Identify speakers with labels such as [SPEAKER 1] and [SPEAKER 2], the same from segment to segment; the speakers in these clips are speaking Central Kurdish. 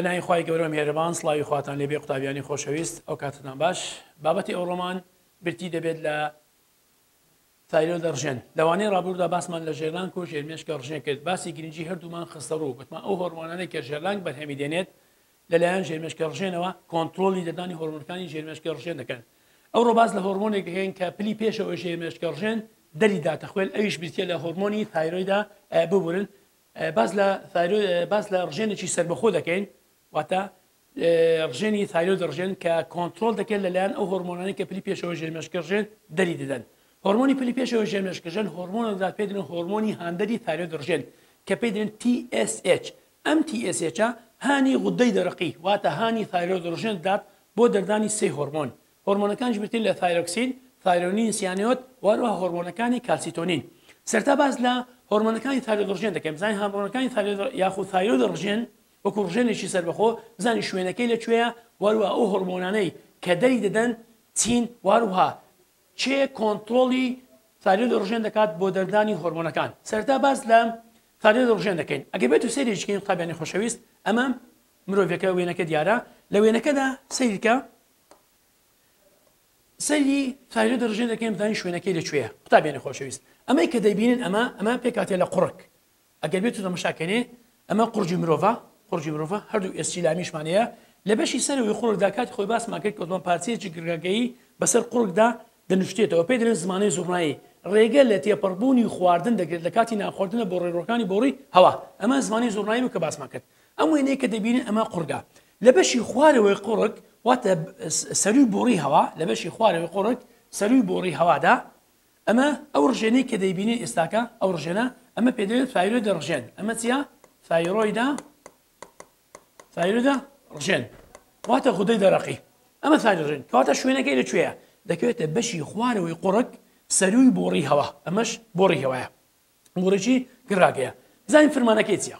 [SPEAKER 1] بەناوی خوای گەورە مێرەبان سڵاوی خواتان لێبێ قوتابیانی خۆشەویست ئەو کاتتان باش بابەتی ئەو ڕۆمان برتی دەبێت لە تایلۆ دەڕژێن لەوانەیە ڕابووردا باسمان لە ژێرلان و ژێرمێشکە ڕژێن کرد باسی گرنگجی هەردوومان خستە ڕوو گوتمان ئەو هۆرمۆنانەی کە ژێرلانگ بەرهەمی دێنێت لەلایەن ژێرمێشکە ڕژێنەوە کۆنترۆڵی دەردانی هۆرمۆنەکانی ژێرمێشکە ڕژێن دەکەن ئەوڕۆ باس لە هۆرمۆنێک دەکەین کە پلی پێشەوە ژێرمێشکە ڕژێن دەری داتەخوێن ئەویش بریتە لە هۆرمۆنی تایرۆیدا ببورن باس لە باس لە ڕژێنێکی سربەخۆ دەکەین واتە ڕژێنی تایرۆ دەڕژێن کە کۆنتترۆل دەکەن لەلایەن ئەو هۆرمۆنانی کە پلی پێشەوە ژێرمێشکەڕژێن دەری دەدەن هۆرمۆنی پلی پێشەوە ژێمێشکەژەن هۆرمۆنەدا پێدرن هۆرمۆنی هاندەری تایرۆ دەڕژێن کە پێدرێن TSH ئەم تی ئێس ئێچە هانی غودەی دەرەقی واتە هانی ثایرۆید ڕژێن دەدات بۆ دەردانی سێ هۆرمۆن، هۆرمۆنەکانیش بریتین لە ثایرۆکسین، ثایرۆنین سیانۆد و هەروەها هۆرمۆنەکانی کالسیتۆنین. سەرەتا باس لە هۆرمۆنەکانی ثایرۆید ڕژێن دەکەین، بزانین هامرۆنەکانی ثایرۆید یاخود ثایرۆید ڕژێن وەکو ڕژێنێکی سەربەخۆ بزانین شوێنەکەی لە کوێیە و هەروەها ئەو هۆرمۆنانەی کە دەری دەدەن چین و هەروەها چێ کۆنترۆڵی ثایرۆید ئۆرژێن دەکات بۆ دەردانی هۆرمۆنەکان سەرتا باس لە ثایرۆید ئۆرژێن دەکەین ئەگەر بێت و سەیرێکی بکەین قوتابیانی خۆشەویست ئەمە مرۆڤەکە وێنەکە دیارە لە وێنەکەدا سەیرکە سەری ثایرۆید ئۆرژێن دەکەین بزانین شوێنەکەی لەکوێیە قوتابیانی خۆشەویست ئەمەی کە دەبینن ئەمە ئەمە پێکاتێ لە قوڕک ئەگەر بێتو تەمەشاکەنێ ئەمە قورجی مرۆڤە قورجی مرۆڤە هەردوو ئێسکی لامیشمان هەیە لە بەشی سەرەوەی قوڕگدا کاتی خۆی باسمان کرد کەوتمان پارچەیەکی گرگەکەیی بەسەر قوڕگدا دەنوشتێتەوە پێی دەلێن زمانەی زوڕنایی ڕێگە لە تێپەڕبوونی خواردن دەگرێت لە کاتی نانخواردنە بۆ ڕێڕۆکانی بۆڕی هەوا ئەمە زمانی زوڕنایی بوو کە باسمان کرد ئەم وێنەیە کە دەبینن ئەمە قوڕگە لە بەشی خوارەوەی قوڕک واتە سەروی بۆڕی هەوا لە بەشی خوارەوەی قوڕک سەروی بۆڕی هەوادا ئەمە ئەو ڕژێنەی کە دەیبینێ ئێستاکە ئەو ڕژێنە ئەمە پێ دەوێت فایرۆیدە ڕژێن ئەمە چیە فایرۆیدا فایرۆدا ڕژێن واتە غودەی دەرەقی ئەمە فایرۆژێن کەواتە شوێنەکەی لە کوێە دەکەوێتە بەشی خوارەوەی قوڕک سەروی بۆڕی هەوا ئەمەش بۆڕی هەوایە بۆڕێکی گراگەیە بزانین فرمانەکەی چیە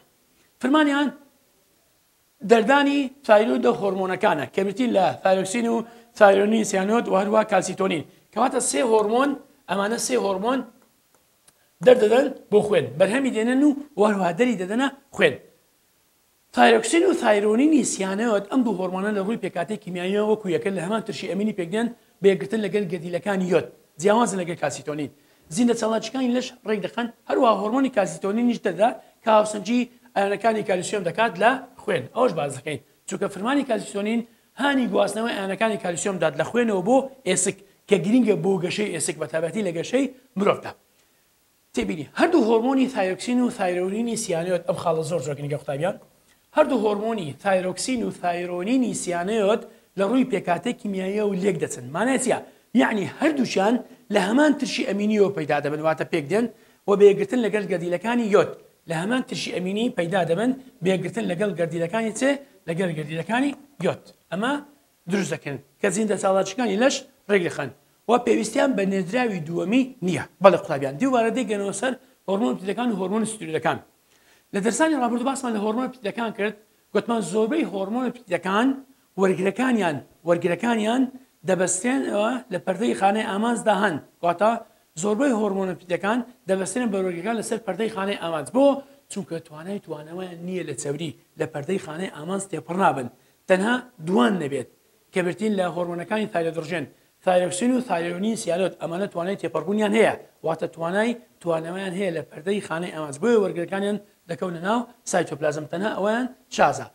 [SPEAKER 1] فرمانیان دەردانی تایرۆید و هۆرمۆنەکانە کە بریتین لە ثایرۆکسین و ثایرۆنین سیانۆد و هەروەها کالسیتۆنین کەواتە سێ هۆرمۆن ئەمانە سێ هۆرمۆن دەردەدەن بۆ خوێن بەرهەمی دێنن و وهروها دەری دەدەنە خوێن تایرۆکسین و ثایرۆنینی سیانۆد ئەم دوو هۆرمۆنە لە ڕووی پێکاتی کیمیاییەوە وەکو یەکن لە هەمان ترشی ئەمینی پێکدێن بە یەکگرتن لەگەل گەردیلەکانی یۆد جیاوازن لەگەل کالسیتۆنین زیندە چالاکیەکانی لەش ڕێک دەخەن، هەروەها هۆرمۆنی کالسیتۆنینیش دەردەدات کە هاوسەنگی ئایۆنەکانی کالیسیۆم دەکات لە خوێن، ئەوەش باس دەکەین چونکە فرمانی کالسیتۆنین هانی گواستنەوەی ئایۆنەکانی کالیسیۆم دەدات لە خوێنەوە بۆ ئێسک کە گرنگە بۆ گەشەی ئێسک بە تایبەتی لە گەشەی مرۆڤدا. تێبینی، هەردوو هۆرمۆنی ثایۆکسین و ثایرۆیورینی سیانۆێت ئەم خاڵە زۆر زۆر گرنگە قوتابیان. هەردوو هۆرمۆنی تایرۆکسین و ثایرۆنینی سیانۆد لە ڕووی پێکهاتەی کیمیاییەوە لێک دەچن مانای چیە؟ یەعنی هەردووکیان لە هەمان ترشی ئەمینیەوە پەیدا دەبن واتە پێک دێن و بە یەکگرتن لەگەل گەردیلەکانی یۆد لە هەمان ترشی ئەمینی پەیدا دەبن بە یەکگرتن لەگەڵ گەردیلەکانی چ لەگەل گەردیلەکانی یۆد ئەمە دروست دەکەن کە زیندە چاڵاچکانی لەش ڕێک دەخەن و پێویستیان بە نێردراوی دووەمی نیە بەڵێ قوتابیان دیوبارە دەیگەنەوە سەر هۆرمۆن پترەکان و هۆرمۆن ستیرۆیدەکان. لە دەرسانی ڕابردوو باسمان لە هۆرمۆنە پیتەکان کرد، گۆتمان زۆربەی هۆرمۆنە پیتەکان وەرگرەکانیان وەرگرەکانیان دەبەسترێنەوە لە پەردەی خانەی ئامانجدا هەن، واتە زۆربەی هۆرمۆنە پیتەکان دەبەسترێن بە وەرگرەکان لەسەر پەردەی خانەی ئامانج بۆ؟ چونکە توانای توانەوەیان نییە لە چەوری لە پەردەی خانەی ئامانج تێپەڕنابن تەنها دووان نەبێت کە برتین لە هۆرمۆنەکانی تایرۆدڕژێن ثایۆکسین و ثایۆنین سیالۆت ئەمانە توانای تێپەڕبوونیان هەیە واتە توانای توانەوەیان هەیە لە پەردەی خانەی ئامانج بۆیە وەرگرەکانیان دەکەونە ناو سایتۆپلازم تەنها ئەوەیان شازە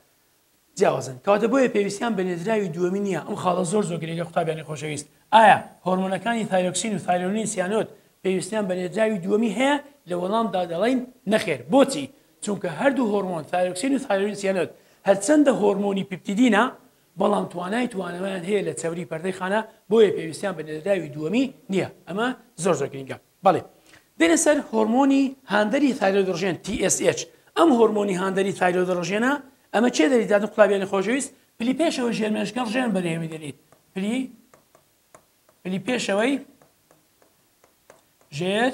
[SPEAKER 1] جیاوازن کەواتە بۆیە پێویستیان بە نێردراوی دووەمی نییە ئەم خاڵە زۆر زۆر گرنگە قوتابیانی خۆشەویست ئایا هۆرمۆنەکانی ثایۆکسین و ثایۆنین سیانۆت پێویستیان بە نێردراوی دووەمی هەیە لە وەڵامدا دەڵێین نەخێر بۆچی چونکە هەردوو هۆرمۆن ثایۆکسین و ثایۆنین سیانۆت هەرچەندە هۆرمۆنی پیپتیدینە بەڵام توانای توانەوەیان هەیە لە چەوری پەردەی خانە بۆیە پێویستیان بە نێردراوی دووەمی نییە ئەمە زۆر زۆر گرنگە بەڵێ دێنە سەر هۆرمۆنی هاندەری تایرۆدڕژێن TSH ئەم هۆرمۆنی هاندەری تایرۆدڕژێنە ئەمە چێ دەری دادن قوتابیانی خۆشەویست پلی پێشەوەی ژێرمێشکەڵ ژێن بەرێوی دەریت پلی پلی پێشەوەی ژێر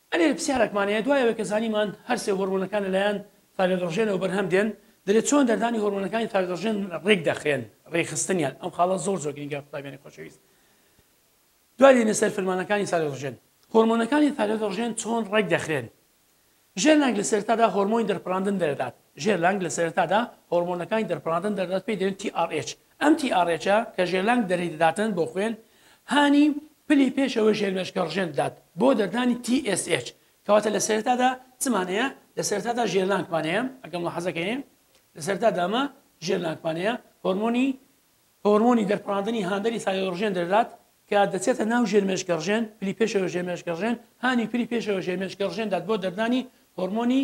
[SPEAKER 1] ئەرێ پرسیارەکمان هەیە دوای ئەوەی کە زانیمان هەر سێ هۆرمۆنەکان لەلایەن تاکەگەڕژێنەوە بەرهەم دێن دەرێ چۆن دەردانی هۆرمۆنەکانی تاکەگەڕژێن ڕێک دەخرێن ڕێکخستنیان ئەم خاڵە زۆر زۆر گرینگە قوتابیانی خۆشەویست دوای دێنە سەر فرمانەکانی تاکەگەڕژێن هۆرمۆنەکانی تاکەگەڕژێن چۆن ڕێک دەخرێن ژێر لانگ لە سەرتادا هۆرمۆنی دەرپراندن دەردات ژێر لانگ لە سەرتادا هۆرمۆنەکانی دەرپراندن دەردات پێی دێن TRH ئەم تی ئا ڕێچە کە ژێرلانگ دەری دەداتن بۆ خوێن هانی پلی پێش ئەوەی ژێرمێشکە ڕژێن بدات بۆ دەردانی تی ئێس ئێچ کەواتە لە سەرێتادا چمان هەیە لە سەرێتادا ژێرلانگمان هەیە ئەگەر مولاحەزە کەین لە سەرێتادا ئەمە ژێرلانگمان هەیە هۆرمۆنی هۆرمۆنی دەرپڕاندنی هاندەری سایۆ ڕژێن دەردات کە دەچێتە ناو ژێرمێشکە ڕژێن پلی پێشەوە ژێرمێشکە ڕژێن هانی پلی پێشەوە ژێرمێشکە ڕژێن دات بۆ دەردانی هۆرمۆنی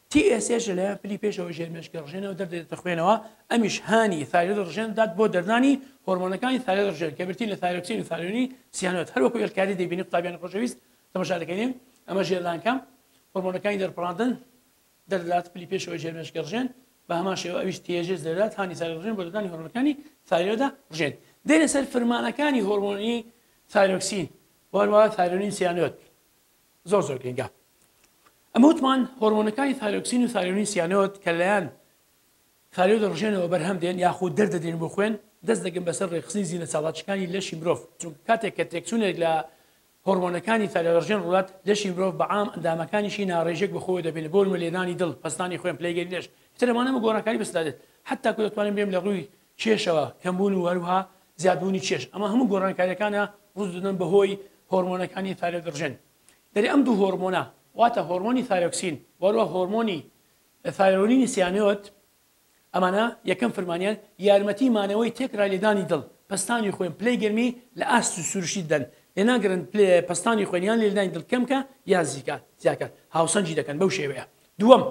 [SPEAKER 1] TSH لە لایەن پلی پێشەوەی ژێر مێشکی ڕژێنەوە دەردێتە خوێنەوە، ئەمیش هانی ثایرۆید ڕژێن دەدات بۆ دەردانی هۆرمۆنەکانی ثایرۆید ڕژێن کە بریتین لە ثایرۆکسین و ثایرۆنی سیانۆد، هەر وەکو ئێلکاری دەیبینی قوتابیانی خۆشەویست تەماشا دەکەین ئەمە ژێر لانکە هۆرمۆنەکانی دەرپڕاندن دەردەدات پلی پێشەوەی ژێر مێشکی ڕژێن بە هەمان شێوە ئەویش TSH دەدات هانی ثایرۆید ڕژێن بۆ دەردانی هۆرمۆنەکانی ثایرۆیدە ڕژێن دێنە سەر فرمانەکانی هۆرمۆنی ثایرۆکسین و هەروەها ثایرۆنین سیانۆد. زۆر زۆر گرنگە ئەمە وتمان هۆرمۆنەکانی ثایرۆکسین و ثایرۆنین سیانۆد کە لەیان ثایرۆیدە ڕژێنەوە بەرهەم دێن یاخود دەردەدرێن بۆ خوێن دەست دەگەن بەسەر ڕێکخستنی زیینە چاڵاچەکانی لەشی مرۆڤ چونکە کاتێک کە تێکچوونێک لە هۆرمۆنەکانی ثایرۆدڕژێن ڕوات لەشی مرۆڤ بە عام ئەندامەکانیشی ناڕێژێک بەخۆوە دەبێنێت بۆ نموونە لێدانی دڵ پەستانی خوێن پلەیگەری لەش کەتر لەوانەمە گۆڕانکاری بەسەردا دێت هەتاکو دەتوانین بێم لە ڕووی کێشەوە، کەمبوون و هەروەها زیادبوونی کێش، ئەمە هەموو گۆڕانکارییەکانە ڕوو دەدەن بەهۆی هۆرمۆنەکانی ثایرۆیدڕژێن دەری ئەم دوو هۆرمۆنە واتە هۆرمۆنی ثایرۆکسین و هەروەها هۆرمۆنی ثایرۆنینی سیانۆت ئەمانە یەکەم فرمانیان یارمەتی مانەوەی تێکرای لێدانی دڵ پەستانی خوێن پلەی گەرمی لە ئاست سروشتی دەدەن لێناگرن پلە پەستانی خوێن یان لێدانی دڵ کەمکە یان زیکە زیاکە هاوسەنگی دەکەن بەو شێوەیە دووەم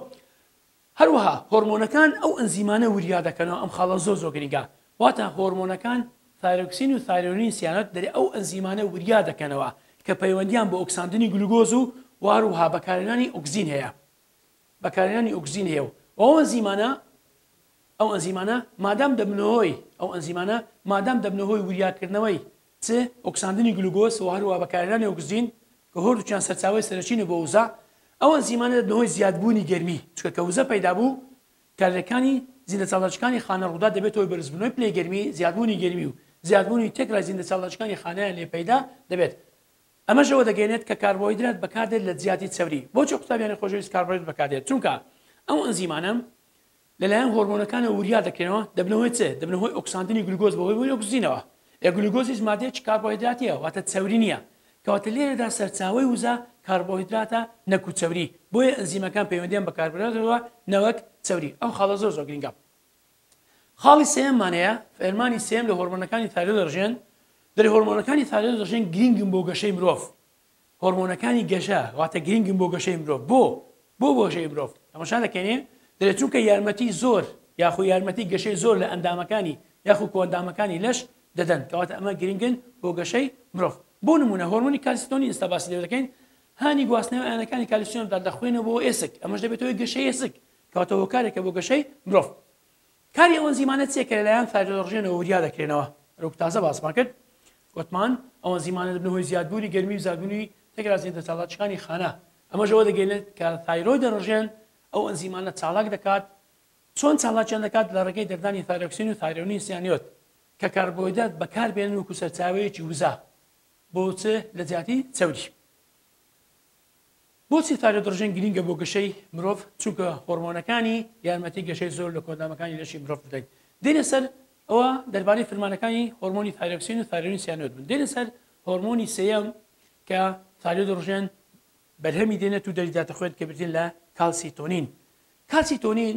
[SPEAKER 1] هەروەها هۆرمۆنەکان ئەو ئەنزیمانە وریا دەکەنەوە ئەم خاڵە زۆر زۆر گرنگە واتە هۆرمۆنەکان ثایرۆکسین و ثایرۆنین سیانۆت دەرێ ئەو ئەنزیمانە وریا دەکەنەوە کە پەیوەندیان بە ئۆکساندنی گلوگۆز و واروها بەکارهێنانی ئۆکسجین هەیە بەکارهێنانی ئۆکسجین هەیە و ئەو ئەنزیمانە ئەو ئەنزیمانە مادام دەبنەوەی ئەو ئەنزیمانە مادام دەبنەوەی وریاکردنەوەی چ ئۆکساندنی گلوگۆز و هەروەها بەکارهێنانی ئۆکسجین کە هۆر وچیان سەرچاوەی سەرەکینە بۆ وزە، ئەو ئەنزیمانە دەبنە هۆی زیادبوونی گەرمی، چونکە کە وزە پەیدا بوو کارلێکانی زیندەچالاکیەکانی خانە ڕوودا دەبێتە هۆی بەرزبوونەوەی پلەی گەرمی، زیادبوونی گەرمی و زیادبوونی تێکرای زیندەچالاکیەکانی خانەیان لێ پەیدا دەبێت. ئەمەش ئەوە دەگەیەنێت کە کاربۆهیدرات بەکاردێت لە جیاتی چەوری. بۆچی قوتابیانی خۆشەویست کاربۆهیدرات بەکاردێت؟ چونکە ئەو ئەنزیمانە لەلایەن هۆرمۆنەکانەوە وریا دەکرێنەوە، دەبنە هۆی چ؟ دەبنە هۆی ئۆکساندنی گلوکۆز بە هۆی ئۆکسجینەوە، ئێ گلوکۆز هیچ مادەیەکی کاربۆهیدراتییە واتە چەوری نییە، کەواتە لێرەدا سەرچاوەی وزە کاربۆهیدراتە نەکو چەوری، بۆیە ئەنزیمەکان پەیوەندیان بە کاربۆهیدراتەوە نەوەک چەوری، ئەم خاڵە زۆر زۆر گرنگە. خاڵی سێیەممان هەیە، فەرمانی سێیەم لە هۆرمۆنەکانی ثایرۆیدڕژێن، دەڵێ هۆرمۆنەکانی ثایرۆیدڕژێن گرنگن بۆ گەشەی مرۆڤ، هۆرمۆنەکانی گەشە واتە گرنگن بۆ گەشەی مرۆڤ بۆ بۆ گەشەی مرۆڤ تەماشا دەکەین دەێت چونکە یارمەتی زۆر یاخو یارمەتی گەشەی زۆر لە ئەندامەکانی یاخو کۆندامەکانی لەش دەدەن کەواتە ئەمە گرنگن بۆ گەشەی مرۆڤ بۆ نمونە هۆرمۆنی کالیستۆنی ئستا باسی لێ دەکەین هانی گواستنەوە ئەیانەکانی کالیسیۆن بدات لە خوێنەوە بۆ ئێسک ئەمەش دەبێتەوەی گەشەی ئێسک کەواتە هۆکارێکە بۆ گەشەی مرۆڤ کاری ئەو ئەنزیمانە چیە کە لەلایەن ثایرۆلۆرژێنەوە وریا دەکرێنەوە؟ وەکو تازە باسمان کرد گوتمان ئەو ئەنزیمانە دەبنە هۆی زیادبوونی گەرمی و زیادبوونی تەگرازیە دەرچالاکیەکانی خانە ئەمەش ئەوە دەگەینێت کە ثایرۆیدەرژێن ئەو ئەنزیمانە چالاک دەکات چۆن چالاکیان دەکات لە ڕێگەی دەردانی ثایرۆکسین و ثایرۆنین سیانیۆت کە کاربۆیدات بەکاربێنن وەکو سەرچاوەیەکی وزە بۆ چ لە جیاتی چەوری. بۆچی تایرۆدڕژن گرینگە بۆ گەشەی مرۆڤ چونکە هۆرمۆنەکانی یارمەتی گەشەی زۆر لە کۆندامەکانی لەشی مرۆڤ بدەین دێنە سەر ئەوە دەربارەی فرمانەکانی هۆرمۆنی تایرۆکسین و تایرۆنی سیانۆد بن دێنە سەر هۆرمۆنی سێیەم کە تایرۆدڕژن بەرهەمی دێنێت و دەریداتە خوێن کە بردین لە کالسیتۆنین کالسیتۆنین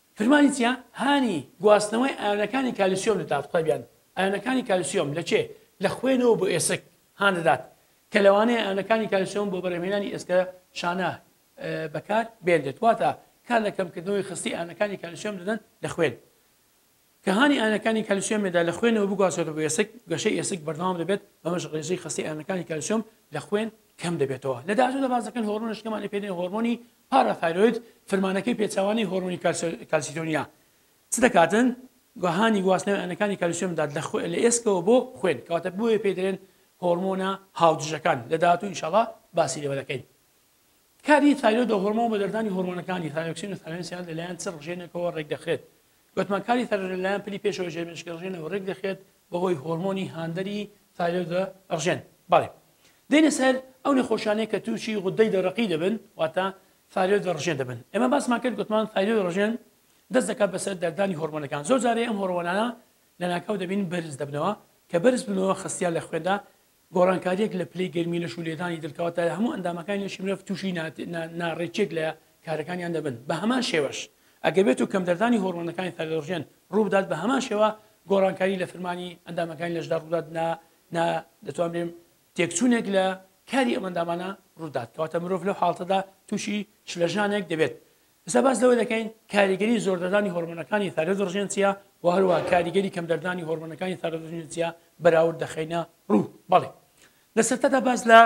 [SPEAKER 1] فرمانی چیە؟ هانی گواستنەوەی ئایۆنەکانی کالیسیۆم دەدات قوتابیان ئایۆنەکانی کالیسیۆم لە چێ؟ لە خوێنەوە بۆ ئێسک هان دەدات کە لەوانەیە ئایۆنەکانی کالیسیۆم بۆ بەرهەمهێنانی ئێسکە شانە بەکار بێنرێت واتە کار لە کەمکردنەوەی خستی ئایۆنەکانی کالیسیۆم دەدەن لە خوێن. کە هانی ئایۆنەکانی کالیسیۆم مێدا لە خوێنەوە بگوازرێتە بۆ ئێسک، گەشەی ئێسک بەردەوام دەبێت، بەمەش ڕێژەی خەستەی ئایۆنەکانی کالیسیۆم لە خوێن کەم دەبێتەوە. لە داهاتوودا باس دەکەن هۆرمۆنە شکەمانەی پێ دەێن هۆرمۆنی پاراثایرۆید، فرمانەکەی پێچەوانەی هۆرمۆنی کالسیتۆنیە، چ دەکاتن؟ هانی گواستنەوەی ئایۆنەکانی کالیسیۆم بدات لە ئێسکەوە بۆ خوێن، کەواتە بۆیە پێی دەێن هۆرمۆنە هاودژەکان، لە داهاتوو ئینشاڵا باسی لێوە دەکەین. کاری تایرۆید و هۆرمۆن بە دەردانی هۆرمۆنەکانی، ثایۆکسین و ثالێنسیال، لە لایەن چ ڕژێنێکەوە ڕێک دەخرێت؟ گوتمان کاری تایرۆید لە لایەن پلی پێشەوەی ژێرمێشکی ڕژێنەوە ڕێک دەخرێت بە هۆی هۆرمۆنی هاندەری ثایرۆید و ڕژێن. بەڵێ. دێینە سەر ئەو نەخۆشانەی کە تووشی غوددەی دەرەقی دەبن واتە ثایرۆید و ڕژێن دەبن. ئێمە باسمان کرد گوتمان ثایرۆید و ڕژێن دەست دەکات بەسەر دەردانی هۆرمۆنەکان. زۆر جارێ ئەم هۆرمۆنانە لە ناکاو دەبین بەرز دەبنەوە، کە بەرز بنەوە خستیان لە خوێندا گۆڕانکارییەک لە پلەی گەرمی لەش و لێدانی دڵ کەواتە هەموو ئەندامەکانی لەشی مرۆڤ تووشی ناڕێکیەک لە کارەکانیان دەبن بە هەمان شێوەش ئەگەر بێت و کەم دەردانی هۆڕمۆنەکانی تایلۆرژێن ڕووبدات بە هەمان شێوە گۆڕانکاری لە فرمانی ئەندامەکانی لەشدا ڕوودات نا نا دەتوان بێم تێکچوونێک لە کاری ئەمەندامانە ڕوودات کەواتە مرۆڤ لەو حاڵتەدا تووشی شلەژانێک دەبێت ئێستا باس لەوە دەکەین کاریگەری زۆردەردانی هۆرمۆنەکانی ثایرۆیدڕژێن چییە و هەروەها کاریگەری کەمدەردانی هۆرمۆنەکانی ثایرۆیدڕژێن چییە بەراورد دەخەینە ڕوو بەڵێ لە سەرتادا باس لە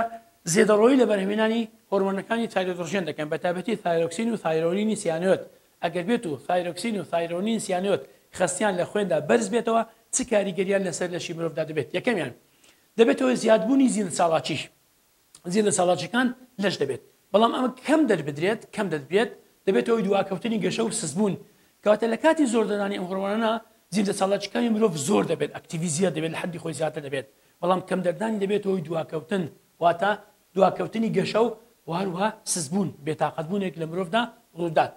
[SPEAKER 1] زێدەڕۆیی لە بەرهەمێنانی هۆرمۆنەکانی تایرۆدڕژێن دەکەن بە تابەتی ثایرۆکسین و ثایرۆنینی سیانۆت ئەگەر بێت و ثایرۆکسین و ثایرۆنین سیانۆت خستیان لە خوێندا بەرز بێتەوە چ کاریگەریان لەسەر لەشی مرۆڤدا دەبێت یەکەمیان دەبێتەوە زیادبوونی زیند ساڵاچیش زیاد لە چالاکیەکان لەش دەبێت، بەڵام ئەمە کەم دەربدرێت کەم دەدبێت دەبێتە هۆی دواکەوتنی گەشە و سستبوون، کەواتە لە کاتی زۆر دانانی ئەم هۆڕمۆنانە زیاد لە چالاکیەکانی مرۆڤ زۆر دەبێت ئەکتیڤی زیاد دەبێت لە حەدی خۆی زیاتر دەبێت، بەڵام کەم دەردانی دەبێتە هۆی دواکەوتن واتە دواکەوتنی گەشە و هەروەها سستبوون، بێتاقەت بوونێک لە مرۆڤدا ڕوودات.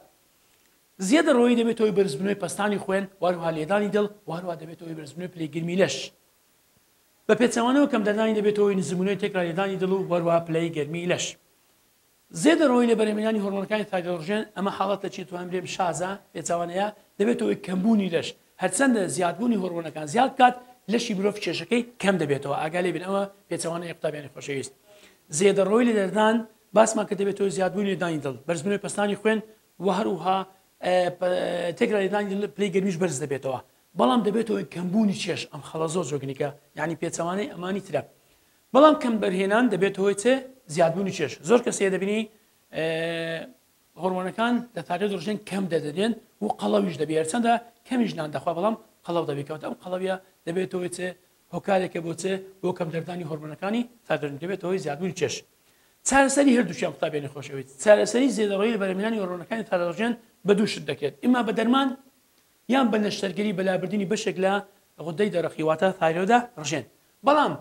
[SPEAKER 1] زیاد لە ڕۆیی دەبێتە هۆی بەرزبوونەوەی پەستانی خوێن و هەروەها لێدانی دڵ و هەروەها دەبێتە هۆی بەرزبوونەوەی پلەی گەرمی لەش. بە پێچەوانەوە کەمدەردانی دەبێتە هۆی نزمبوونەوەی تێکرالێدانی دڵ و هەروەها پلەی گەرمیی لەش. زێدە ڕۆیی لە بەرهەمهێنانی هۆڕمۆنەکانی تایرۆڕژێن، ئەمە حاڵەتێکی توانم بلێم شازە، پێچەوانەیە، دەبێتە هۆی کەمبوونی لەش، هەرچەندە زیادبوونی هۆڕمۆنەکان زیاد بکات، لەشی مرۆڤ کێشەکەی کەم دەبێتەوە، ئاگا لێ بن ئەمە پێچەوانەیە قوتابیانی خۆشەویست. زێدە ڕۆیی لە لێدان باسمان کرد دەبێتە هۆی زیادبوونی لێدانی دڵ، بەرزبوونەوەی پەستانی خوێن و هەروەها تێکرا لێدانی دڵ پلەی گەرمیش بەرز دەبێتەوە، بەڵام دەبێتە هۆی کەمبوونی چێژ ئەم خەڵە زۆر جۆگنیکە یانی پێچەوانەی ئەمانی ترە بەڵام کەم بەرهێنان دەبێتە هۆی چێ زیادبوونی چێژ زۆر کەسێ دەبینی هۆرمۆنەکان لە تاکە دڕژێن کەم دەدەێن و قەڵەویش دەبێ هەرچەندە کەمیش نان دەخوا بەڵام قەڵەو دەبیکەوتە ئەم قەڵەویە دەبێتەوەی چێ هۆکارێکە بۆچێ بۆ کەم دەردانی هۆرمۆنەکانی تاگەرن دەبێتەوەی زیادبوونی چێش چارەسەری هەردووچیان قوتابێنی خۆشەویت چارەسەری زێدەڕۆی بەرەمینانی هۆرۆنەکانی تاراژێن بە دووشت دەکرێت ئما بە دەرمان یان بە نەشتەرگەری بە لابردنی بەشێک لە غودەی دەرەقی واتە ثایرۆیدە ڕژێن بەڵام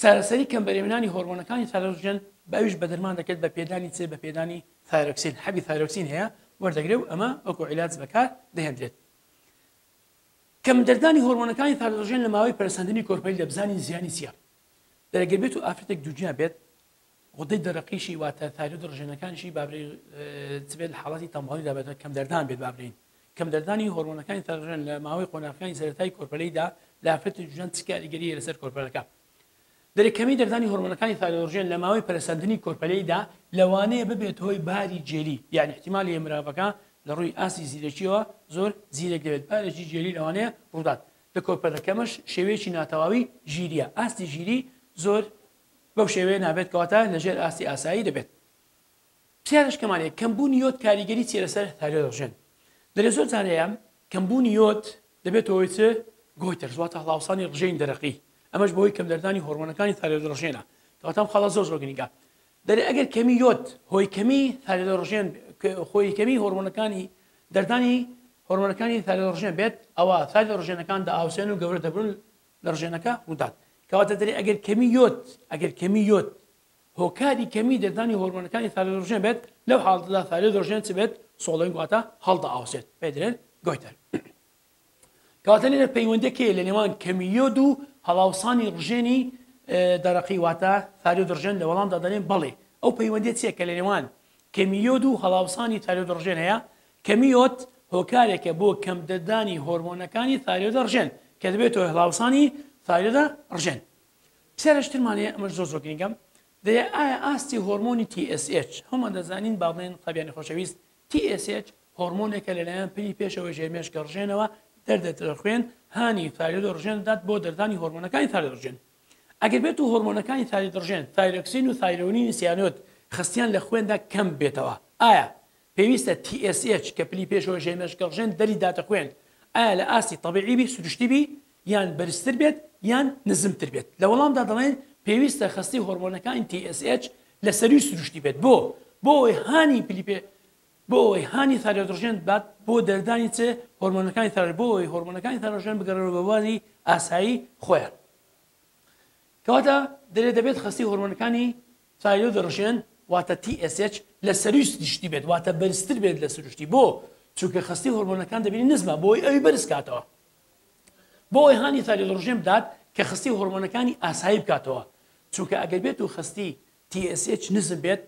[SPEAKER 1] چارەسەری کەم بەرێوەنانی هۆرمۆنەکانی ثایرۆژێن بە ئەویش بە دەرمان دەکرێت بە پێدانی چ بە پێدانی ثایرۆکسین حەبی ثایرۆکسین هەیە وەردەگرێ و ئەمە وەکو عیلاج بەکار دەهێندرێت کەم دەردانی هۆرمۆنەکانی ثایرۆژێن لە ماوەی پەرسەندنی کۆرپەیل دەبزانین زیانی چییە دەرەگەر بێت و ئافرەتێک دووگیان بێت غدەی دەرەقیشی واتە تایرۆیدە ڕژێنەکانیشی با برێین چ بێت لە حاڵەتی تەمبهاڵیدا بێت کەمدەردان بێت با برێین کەمدەردانی هۆرمۆنەکانی تەرژێن لە ماوەی قۆناغەکانی سەرەتایی کۆرپەلەیدا لە ئافرەتی جوان چ کاریگەرییە لەسەر کۆرپەلەکە دەرێ کەمی دەردانی هۆرمۆنەکانی تایرۆژێن لە ماوەی پەرەسەندنی کۆرپەلەیدا لەوانەیە ببێت هۆی باری جێلی یعنی احتیمالی مرافەکە لە ڕووی ئاستی زیرەکیەوە زۆر زیرەک دەوێت بارێکی جێلی لەوانەیە ڕوودات لە کۆرپەلەکەمەش شێوەیەکی ناتەواوی ژیریە ئاستی ژیری زۆر بەو شێوەیە نابێت کەواتە لە ژێر ئاستی ئاسایی دەبێت. پرسیارش کەمان هەیە کەم بوونی یۆد کاریگەری چیە لەسەر ثایرۆیدۆژێن دەرێ زۆر جار هەیە کەم بوونی یۆد دەبێت هۆی چ گۆیتەرز واتە هەڵاوسانی ڕژێنی دەرەقی ئەمەش بەهۆی کەم دەردانی هۆرمۆنەکانی ثایرۆیدۆژێنە کەواتە خەڵە زۆر زۆر گرنگە دەرێ ئەگەر کەمی یۆد هۆی کەمی ثایرۆیدۆژێن خۆی کەمی هۆرمۆنەکانی دەردانی هۆرمۆنەکانی ثایرۆیدۆژێن بێت ئەوە ثایرۆیدۆژێنەکان دەئاوسێن و گەورە دەبن لەرژێنەکە ڕوودات کەواتە دەرێ ئەگەر کەمی یۆد ئەگەر کەمی یۆد هۆکاری کەمی دەردانی هۆرمۆنەکانی ثایرۆدۆرژێن بێت لەو حاڵەتەدا ثایرۆدۆرژێن چ بێت سۆڵۆین واتە هەڵدا ئاوسێت پێ دەرێن گۆیتەر کەواتە لێرە پەیوەندەکەی لە نێوان کەمی یۆد و هەڵاوسانی ڕژێنی دەرەقی واتە ثایرۆ دڕژێن لە وەڵامدا دەڵێن بەڵێ ئەو پەیوەندێت چیە کە لە نێوان کەمیۆد و هەڵاوسانی تاریۆ دڕژێن هەیە کەمی یۆد هۆکارێکە بۆ کەمتردانی هۆرمۆنەکانی ثایرۆیدە ڕژێن کە دەبێتە هۆی هەڵاوسانی ثایرۆیدە ڕژێن. پرسیارێشترمان هەیە ئەمەش زۆر زۆر گرینگە دەیە ئایا ئاستی هۆرمۆنی TSH هەموومان دەزانین با بڵێن قوتابیانی خۆشەویست TSH هۆرمۆنێکە لەلایەن پلی پێشەوەی ژێر مێشکە ڕژێنەوە دەردێتە لە خوێن هانی ثایرۆیدە ڕژێن دەدات بۆ دەردانی هۆرمۆنەکانی ثایرۆیدە ڕژێن ئەگەر بێت و هۆرمۆنەکانی ثایرۆیدە ڕژێن ثایرۆکسین و ثایرۆنینی سیانۆد خستیان لە خوێندا کەم بێتەوە ئایا پێویستە TSH کە پلی پێشەوە ژێ مێش گەڵژێن دەری داتە خوێن ئایا لە ئاستی تەبیعی بی سروشتی بی یان بەرزتر بێت یان نزمتر بێت لە وەڵامدا دەڵێن پێویستە خەستی هۆرمۆنەکانی TSH لە سەروی سروشتی بێت بۆ بۆ ئەوەی هانی پلی پێ بۆ ئەوەی هانی ثایرۆدڕژێن بات بۆ دەردانی چ هۆرمۆنەکانی ثایرۆید بۆ ئەوەی هۆرمۆنەکانی ثایرۆژێن بگەڕێنەوە بە بواری ئاسایی خۆیان کەواتە دەرێ دەبێت خەستی هۆرمۆنەکانی تایرۆدڕژێن واتە TSH لە سەرووی سروشتی بێت واتە بەرزتر بێت لە سروشتی بۆ؟ چونکە خەستی هۆرمۆنەکان دەبینی نزمە بۆی ئەوی بەرز کاتەوە بۆ ئەوی هانی تایرۆدڕژێن بدات کە خەستی هۆرمۆنەکانی ئاسایی بکاتەوە چونکە ئەگەر بێت و خەستی TSH نزم بێت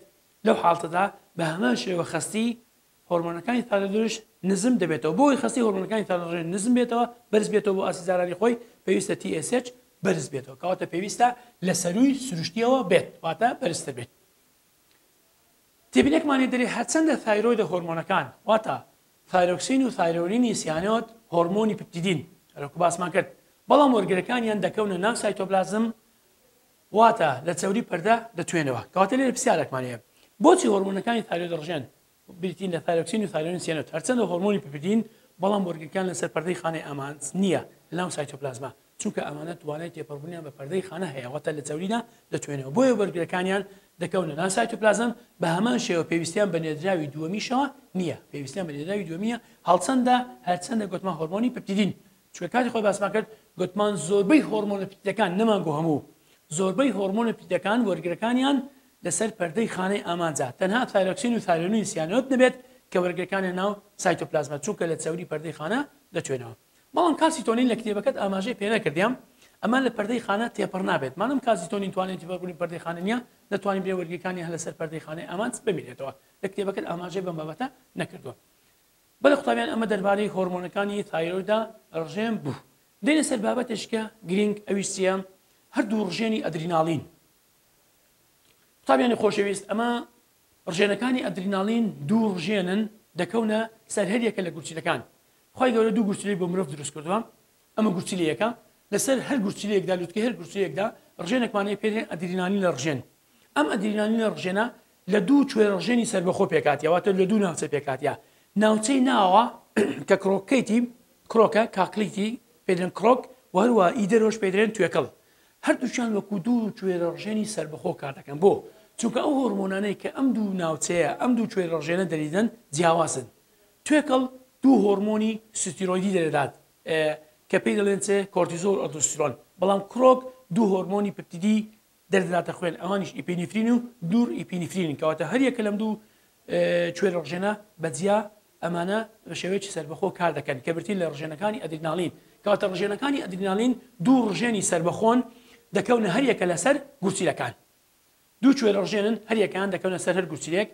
[SPEAKER 1] لەو حاڵتەدا بە هەمان شێوە خەستی هۆرمۆنەکانی تالەدروش نزم دەبێتەوە بۆ ئەوەی خەستی هۆرمۆنەکانی تالەدروش نزم بێتەوە بەرز بێتەوە بۆ ئاستی زارانی خۆی پێویستە TSH بەرز بێتەوە کەواتە پێویستە لە سەرووی سروشتیەوە بێت واتە بەرزتر بێت تێبینێکمان لێ دەرێ هەرچەندە ثایرۆیدە هۆرمۆنەکان واتە ثایرۆکسین و ثایرۆنینی سیانۆت هۆرمۆنی پپتیدین هەرۆکو باسمان کرد بەڵام وەرگرەکانیان دەکەونە ناو سایتۆپلازم واتە لە چەوری پەردە دەتوێنەوە. کەواتە لێرە پرسیارێکمان هەیە، بۆچی هۆرمۆنەکانی تایرۆید ڕژێن بریتین لە تایرۆکسین و تایرۆین سیانۆت، هەرچەندە هۆرمۆنی پپیدین، بەڵام بۆرگەکان لەسەر پەردەی خانەی ئامانج نییە لەناو سایتۆپلازما، چونکە ئەمانە توانای تێپەڕبوونیان بە پەردەی خانە هەیە واتە لە چەوریدا دەتوێنەوە بۆیە بەرگرەکانیان دەکەونە ناو سایتۆپلازم، بە هەمان شێوە پێویستیان بە نێردراوی دووەمیشەوە نییە پێویستیان بە نێردراوی دووەمییە هەڵچەندە هەرچەندە گۆتمان هۆرمۆنی پپتیدین چونکە کاتی خۆی باسمان کرد گوتمان زۆربەی هۆرمۆنە پیتەکان نەمانگۆ هەموو زۆربەی هۆرمۆنە پیتەکان وەرگرەکانیان لەسەر پەردەی خانەی ئامانجا تەنها تایرۆکسین و تایرۆنین سیانۆت نەبێت کە وەرگرەکانیان ناو سایتۆپلازمە چونکە لە چەوری پەردەی خانە دەتوێنەوە بەڵام کالسیتۆنین لە کتێبەکەت ئاماژەی پێنەکردیام ئەمە لە پەردەی خانە تێپەڕ نابێت مادەم کالسیتۆنین توانای تێپەڕبوونی پەردەی خانە نییە دەتوانین بێ وەرگرەکانی هەر لەسەر پەردەی خانەی ئامانج بمینێتەوە لە کتێبەکەت ئاماژەی بەم بابەتە نەکردووە بەڵێ قوتابیان ئەمە دەربارەی هۆرمۆنەکانی ثایرۆیدە ڕژێن بوو. دێنە سەر بابەتێشکە گرینگ ئەویش چیە؟ هەردوو ڕژێنی ئەدریناڵین. قوتابیانی خۆشەویست ئەمە ڕژێنەکانی ئەدریناڵین دوو ڕژێنن دەکەونە سەر هەریەکە لە گورچیلەکان. خی گەورە دوو گورچلی بۆ مرۆڤ دروست کردووە ئەمە گورچلی یەکە لەسەر هەر گورچلەیەکدا لوتکە هەر گورچەیەکدا ڕژێنێکمانەیە پێێن ئەدرینانی لە ڕژێن ئەم ئەدرینانی لە ڕژێنە لە دوو کوێرەڵژێنی سەربەخۆ پێکهاتیە واتە لە دوو ناوچە پێکهاتیە ناوچەی ناوە کە کرۆکەیتی کرۆکە کاکلیتی پێدرێن کرۆک و هەروە ئی دەرەوەش پێدرێن توێکڵ هەردووچان وەکو دوو کوێرەڵژێنی سەربەخۆ کار دەکەن بۆ چونکە ئەو هۆرمۆنانەی کە ئەم دوو ناوچەیە ئەم دوو کوێرەڵژێنە دەریدەن جیاوازن توێکڵ دوو هۆرمۆنی ستیرۆیدی دەدات کە پێی دەڵێن چێ کۆرتیزۆل ئۆدوسترۆن بەڵام کرۆک دوو هۆرمۆنی پپتیدی دەردەداتە خوێن، ئەوانیش ئیپینیفرین و نور ئیپینیفرینن، کەواتە هەر یەکە لەم دوو کوێرە ڕژێنە بە جیا ئەمانە بە شێوەیەکی سەربەخۆ کار دەکەن کە برتین لە ڕژێنەکانی ئەدرینالین، کەواتە ڕژێنەکانی ئەدرینالین دوو ڕژێنی سەربەخۆن دەکەونە هەر یەکە لەسەر گورچیلەکان دوو کوێرە ڕژێنن هەر یەکەیان دەکەونە سەر هەر گورچیلێک،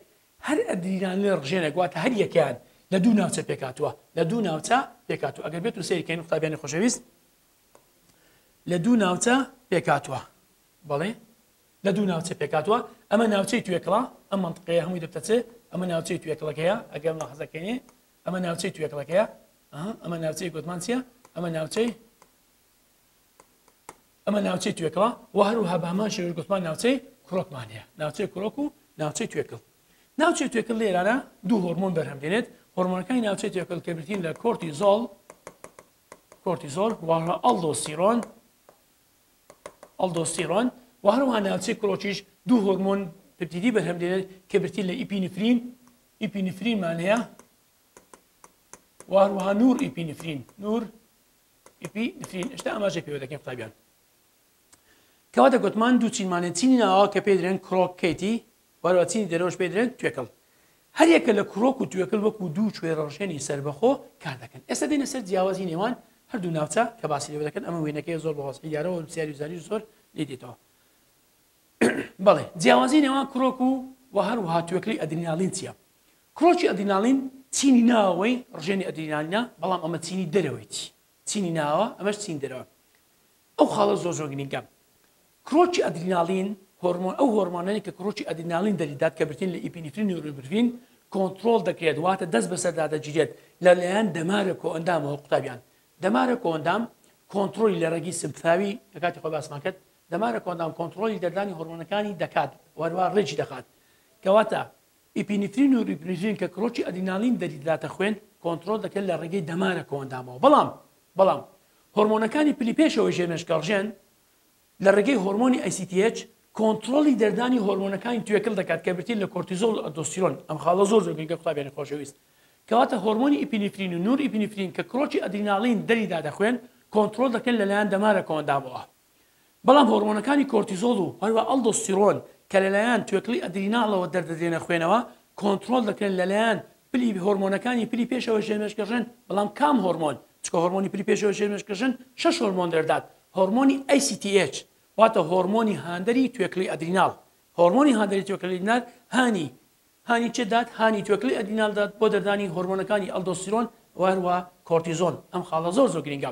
[SPEAKER 1] هەر ئەدرینالین ڕژێنێک واتە هەر یەکەیان لە دوو ناوچە پێکهاتووە لە دوو ناوچە پێکهاتووە ئەگەر بێتو سەیرکەین قوتابیانی خۆشەویست. لە دوو ناوچە پێکهاتووە. بەڵێ لە دوو ناوچە پێکهاتووە، ئەمە ناوچەی توێکڵە، ئەم مەنتقەیە هەمووی دەبتە چ؟ ئەمە ناوچەی توێکڵەکەیە، ئەگەر مولاحەزەکەینێ ئەمە ناوچەی توێکڵەکەیە، ئەها ئەمە ناوچەی گۆتمان چییە؟ ئەمە ناوچەی ئەمە ناوچەی توێکڵە و هەروها بە هەمان شێوەش گوتمان ناوچەی کڕۆکمان هەیە، ناوچەی کڕۆک و ناوچەی توێکڵ. ناوچەی توێکڵ لێرانە دوو هۆرمۆن بەرهەم دێنێت، هۆرمۆنەکانی ناوچەی توێکڵ کە بریتین لە کۆرتیزۆڵ کۆرتیزۆڵ و هەروەها ئەڵدۆستیرۆن، Aldosterone، و هەروەها ناوچەی کڵۆچیش دوو هۆرمۆن پردیدی بەرهەم دێنن کە برتین لە ئیپینفرین ئیپینفرینمان هەیە و هەروەها نور ئیپینفرین نور ئیپینفرین ئێستا ئاماژە پێوە دەکەین قوتابیان کەوا دەگوتمان دوو چینمانێن چینی ناوە کە پێدرێن کرۆکەیتی وانەوەچینی دەرەوەش پێی دەلێن توێکڵ. هەریەکە لە کرۆک و توێکل وەکو دوو کوێرەڕژێنی سەربەخۆ کاردەکەن. ئێستا دێینە سەر جیاوازی نێوان هەردوو ناوچە کە باسی لێوە دەکەن، ئەمە وێنەکەیە زۆر بە وەزحی دیارە و نوسیاری و زانیش زۆر لێی دێتەوە. بەڵێ جیاوازی نێوان کرۆک و و هەروەها توێکلی ئەدریناڵین چیە؟ کرۆکی ئەدریناڵین چینی ناوەوەی ڕژێنی ئەدرینالینە، بەڵام ئەمە چینی دەرەوەیەتی. چینی ناوەوە ئەمەش چینی دەرەوە ئەو خاڵە زۆر زۆر گرینگە کرۆکی ئەدریناڵین هۆرمۆن ئەو هۆرمۆنەی کە کرۆکی ئەدریناڵین دەریدات کە برتین لە ئیپینیفرین نوربرین کۆنتترۆل دەکرێت واتە دەست بەسەردا دەگیرێت لەلایەن دەمارە کۆ ئەندامەوە قوتابیان دەمارە کۆندام کۆنتترۆلی لە ڕێگی سمفاوی لە کاتی خۆ باسمان کرد دەمارە کۆندام کۆنتترۆلی دەردانی هۆرمۆنەکانی دەکات وەروا ڕێکی دەخات کەواتە ئیپینیفرین و ریپنیفرین کە کڕۆکی ئەدرینالین دەریدراتە خوێن کۆنتڕۆڵ دەکرێت لە ڕێگەی دەمارە کۆئەندامەوە بەڵام بەڵام هۆرمۆنەکانی پلی پێشەوەی ژێر مێشکەڕژێن لە ڕێگەی هۆرمۆنی ACTH کۆنتڕۆڵی دەردانی هۆرمۆنەکانی توێکڵ دەکات کە برتین لە کۆرتیزۆڵ و ئەلدۆستیرۆن ئەم خاڵە زۆر زۆر گرنگە قوتابیانی خۆشەویست کەواتە هۆرمۆنی ئیپینیفرین و نور ئیپینیفرین کە کڕۆکی ئەدرینالین دەریداتە خوێن کۆنتڕۆڵ دەکرێن لەلایەن دەمارە کۆئەندامەوە بەڵام هۆڕمۆنەکانی کۆرتیزۆڵ و هەروەها ئەڵدۆستیرۆن کە لەلایەن توێکڵی ئەدریناڵەوە دەردەدرێنە خوێنەوە کۆنتڕۆڵ دەکرێن لەلایەن پلی هۆرمۆنەکانی پلی پێشەوە ژێرمێشکەژن بەڵام کام هۆرمۆن چکە هۆرمۆنی پلی پێشەوە ژێرمێشکەژن شەش هۆرمۆن دەردات هۆرمۆنی ACTH واتە هۆرمۆنی هاندەری توێکڵی ئەدریناڵ هۆرمۆنی هاندەری توێکڵی ئەدرینال هانی هانی چێ دات هانی توێکڵی ئەدرینال دات بۆ دەردانی هۆرمۆنەکانی ئەلدۆستیرۆن وهروە کۆرتیزۆن ئەم خاڵە زۆر زۆر گرنگە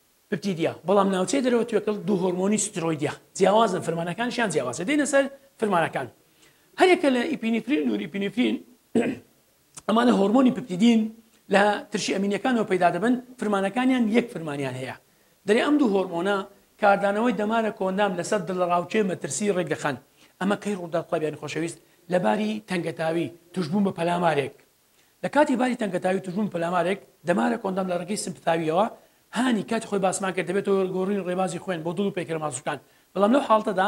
[SPEAKER 1] پپتیدیە، بەڵام ناوچەی دەرەوە توێکڵ دوو هۆرمۆنی ستیرۆیدیە جیاوازن فرمانەکانیشیان جیاوازە دێینە سەر فرمانەکان هەریەکە لە ئیپینیفرین نورئیپینیفرین ئەمانە هۆرمۆنی پپتیدین لە ترشی ئەمینیەکانەوە پەیدا دەبن فرمانەکانیان یەک فرمانیان هەیە دەرێ ئەم دوو هۆرمۆنە کاردانەوەی دەمارە کۆندام لەسەر دڵە ڕاوچێ مەترسی ڕێک دەخەن ئەمە کەی ڕووداو قوتابیانی خۆشەویست لەباری تەنگەتاوی توشبوون بە پەلامارێک لە کاتی باری تەنگەتاوی و توشبوون بە پەلامارێک، دەمارە کۆندەم لە ڕێگەی سمپتاوییەوە، هانی کاتی خۆی باسمان کرد، دەبێتە هۆی گۆڕینی ڕێبازی خوێن بۆ دڵ و پەیکەرە ماسولکان، بەڵام لەو حاڵەتەدا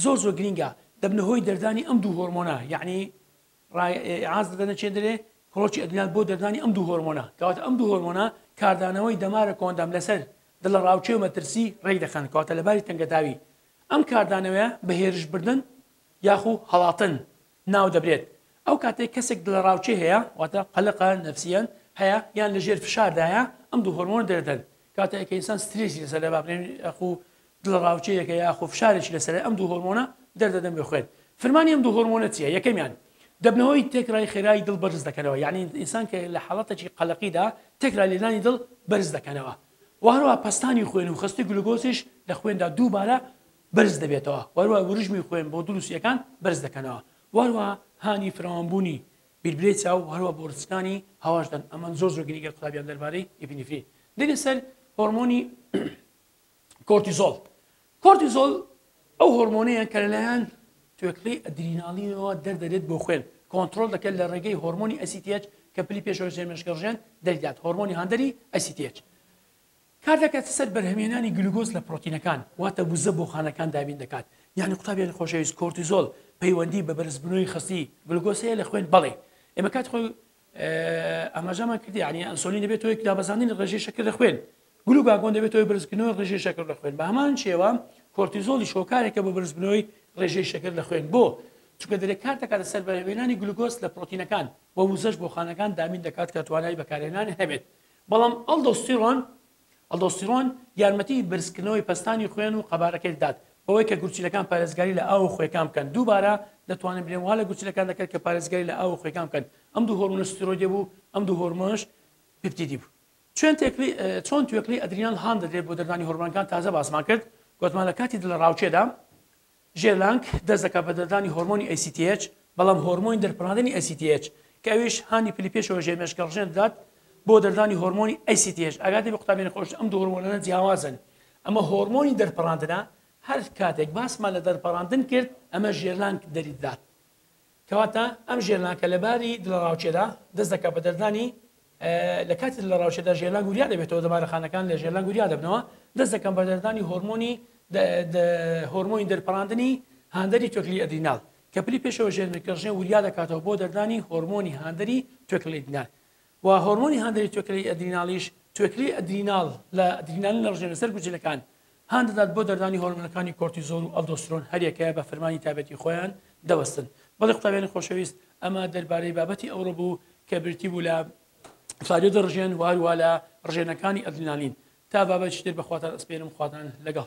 [SPEAKER 1] زۆر زۆر گرینگە، دەبنە هۆی دەردانی ئەم دوو هۆرمۆنە، یەعنی ڕایعاز دەدەنە چێندرێ کڕۆکی ئەدرینال بۆ دەردانی ئەم دوو هۆرمۆنە، کەواتە ئەم دوو هۆرمۆنە کاردانەوەی دەمارە کۆندەم لەسەر دڵەڕاوکێ و مەترسی ڕێک دەخەن، کەواتە لە باری تەنگەتاوی ئەم کاردانەوەیە بە هێرشبردن یاخو هەڵاتن ناو دەبرێت، ئەو کاتەی کەسێک دڵەڕاوکێ هەیە، واتە قەلەقە نەفسییەن هەیە یان لە ژێر فشاردایە، ئەم دوو هۆرمۆنە دەردەن، کاتێک کە ئینسان سترێسی لەسەرە با بڵێین یاخو دڵەڕاوکێیەکە یاخو فشارێکی لەسەرە ئەم دوو هۆرمۆنە دەردەدەن بۆ خوێن، فرمانی ئەم دوو هۆرمۆنە چییە؟ یەکەمیان، دەبنەهۆی تێکرای خێرای دڵ بەرز دەکەنەوە، یانی ئینسان کە لە حاڵەتێکی قەلەقیدا تێکرا لێدانی دڵ بەرز دەکەنەوە و هەروەها پەستانی خوێن و خەستی گلوکۆزیش لە خوێندا دووبارە بەرز دەبێتەوە وەروەها وروژمی خوێن بۆ دڵ و سیەکان بەرز دەکەنەوە وەروەها هانی فراوان بوونی بیربلەی چاو وەروەها بۆ ڕچکانی هەواش دەن ئەمەن زۆر زۆر گرنگە قوتابیان دەربارەی ئیپینیفرین دێنە سەر هۆرمۆنی کۆرتیزۆڵ کۆرتیزۆڵ ئەو هۆرمۆنەیە کە لەلایەن توێکڵی ئەدریناڵینەوە دەردەێت بۆ خوێن کۆنتترۆل دەکەن لە ڕێگەی هۆرمۆنی ئەسیتێچ کە پلی پێشەوە زێمێشگەڕژێن دەریدات هۆرمۆنی هاندەری ئەسیتێچ کار دەکاتە سەر بەرهەمهێنانی گلوگۆز لە پرۆتینەکان واتە وزە بۆ خانەکان دابین دەکات یانی قوتابیانی خۆشەویست کۆرتیزۆل پەیوەندی بە بەرزبونەوەی خستی گلوگۆز هەیە لە خوێن بەڵێ ئێمە کات خۆی ئاماژەمان کرد یانی ئەنسۆلین دەبێت هۆی دابەزاندنی ڕێژەی شەکر لە خوێن گلوگاگۆن دەبێت هۆی بەرزکردنەوەی ڕێژەی شەکر لە خوێن بە هەمان شێوە کۆرتیزۆلیش هۆکارێکە بۆ بەرزبنەوەی ڕێژەی شەکر لە خوێن بۆ چونکە دەرێ کار دەکاتە سەر بەرهێنانی گلوگۆز لە پرۆتینەکان و وزەش بۆ خانەکان دامین دەکات کە توانای بەکارهێنان هەبێت بەڵام ئەڵدۆستیڕۆن، Aldosterone، یارمەتی بەرزکردنەوەی پەستانی خوێن و قەبارەکەی دەدات، بەوەی کە گورچیلەکان پارێزگاری لە ئاو و خوێکان بکەن، دووبارە دەتوانن برێن وا لە گورچیلەکان دەکەن کە پارێزگاری لە ئاو و خوێکان بکەن، ئەم دوو هۆرمۆنە ستیرۆیدێ بوو، ئەم دوو هۆرمۆنەش پیپتیدی بوو. چۆن توێکڵی ئەدرینال هان دەدرێت بۆ دەردانی هۆرمۆنەکان تازە باسمان کرد، گۆتمان لە کاتی دڵەڕاوکێدا، ژێرلانک دەست دەکات بە دەردانی هۆرمۆنی ACTH، بەڵام هۆرمۆنی دەرپەڕاندنی ACTH کە ئەویش هانی پلی پێشەوە ژێر مێشکە ڕژێن دەدات بۆ دەردانی هۆرمۆنی ACTH ئاگاداری بە قوتابیانی خۆشت ئەم دوو هۆرمۆنانە جیاوازن ئەمە هۆرمۆنی دەرپەڕاندنە هەر کاتێک باسمان لە دەرپەڕاندن کرد ئەمە ژێرلانک دەری دەدات. کەواتە ئەم ژێرنان کە لە باری دڵەڕاوکێدا دەست دەکات بە دەردانی لە کاتی دڵەڕاوکێدا ژێرنان گوریا دەبێتەوە دەمارەخانەکان لە ژێرنان گوریا دەبنەوە دەست دەکەن بە دەردانی هۆرمۆنی هۆرمۆنی دەرپەڕاندنی هاندەری توێکلی ئەدرینال کە پلی پێشەوە ژێرنکەژێ وریا دەکاتەوە بۆ دەردانی هۆرمۆنی هاندەری توێکلەیدنال و هۆرمۆنی هاندەری توێکلەی ئەدریناڵیش توێکلی ئەدریناڵ لە ئەدرینالین دەڕژێنە سەر گوجلەکان هان دەدات بۆ دەردانی هۆرمۆنەکانی کۆرتیزۆڵ و ئەلدۆسترۆن هەریەکەیە بە فەرمانی تایبەتی خۆیان دەوەستن بەڵی قوتابیانی خۆشەویست ئەمە دەربارەی بابەتی ئەوڕۆ بوو کە بریتی بوو لە فاریۆ دەڕژێن وهەروە لە ڕژێنەکانی ئەدرینالین تا بابەتیتر بەخواتان ئەسپێرم خواتان لەگەڵ.